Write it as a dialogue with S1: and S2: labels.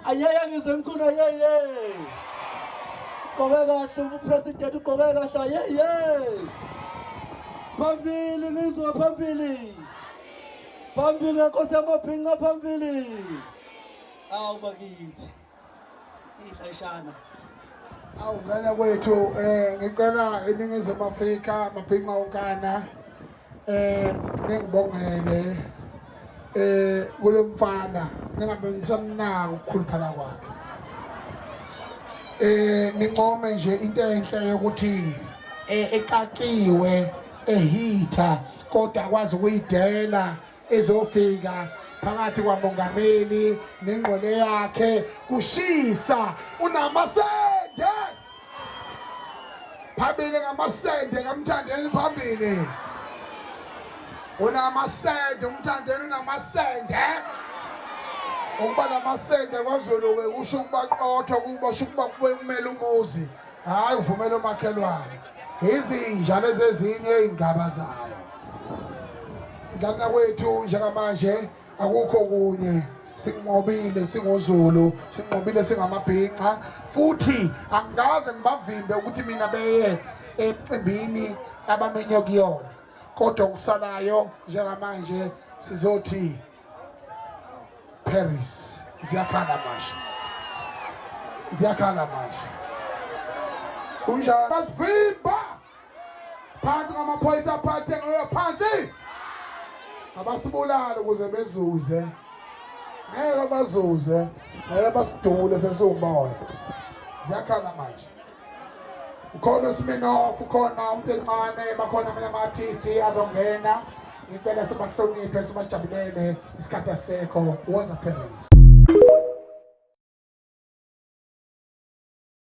S1: ayeye ngisemchunu ayeye ugqoke kahle ubupresident ugqoke kahle ayeye phambili ngizwa phambili phambili nkosi yamabhinca phambili awu bakithi ihlashana
S2: awungena kwethu um ngicela iningizimu afrika mabhinca unkana eh ngibongele eh kulomfana ningabe msamnaka ukukhuluphala kwakhe eh nincome nje into enhle yokuthi eh, ekakiwe ehitha kodwa akwazi ukuyidela ezofika phakathi kwamongameli nengqole yakhe kushisa unamasende phambili ngamasende kamthandeni phambili unamasende umthandeni unamasende ukuba namasende kwazulu we kusho ukuba qotho kuba sho ukuba kube kumele umuzi hhayi uvumele umakhelwane izinja lezi ezinye iy'ngaba zayo ngana kwethu njengamanje akukho kunye sinqobile singozulu sinqobile singamabhinca futhi angikaze ngibavimbe ukuthi mina beye emcimbini abamenye kuyona kodwa okusalayo njengamanje sizothi Paris ziyakhala manje ziyakhala manje kunjalo basivimba phansi ngamaphoyisa aphathe ngoyo phansi abasibulali ukuze bezuze ngeke bazuze ngeke basidule sesiwumoya ziyakhala manje ukhona usiminof ukhona umntencane bakhona amanye ama-artisti azongena ngicela sibahloniphe sibajabulele isikhathi asekho was a parents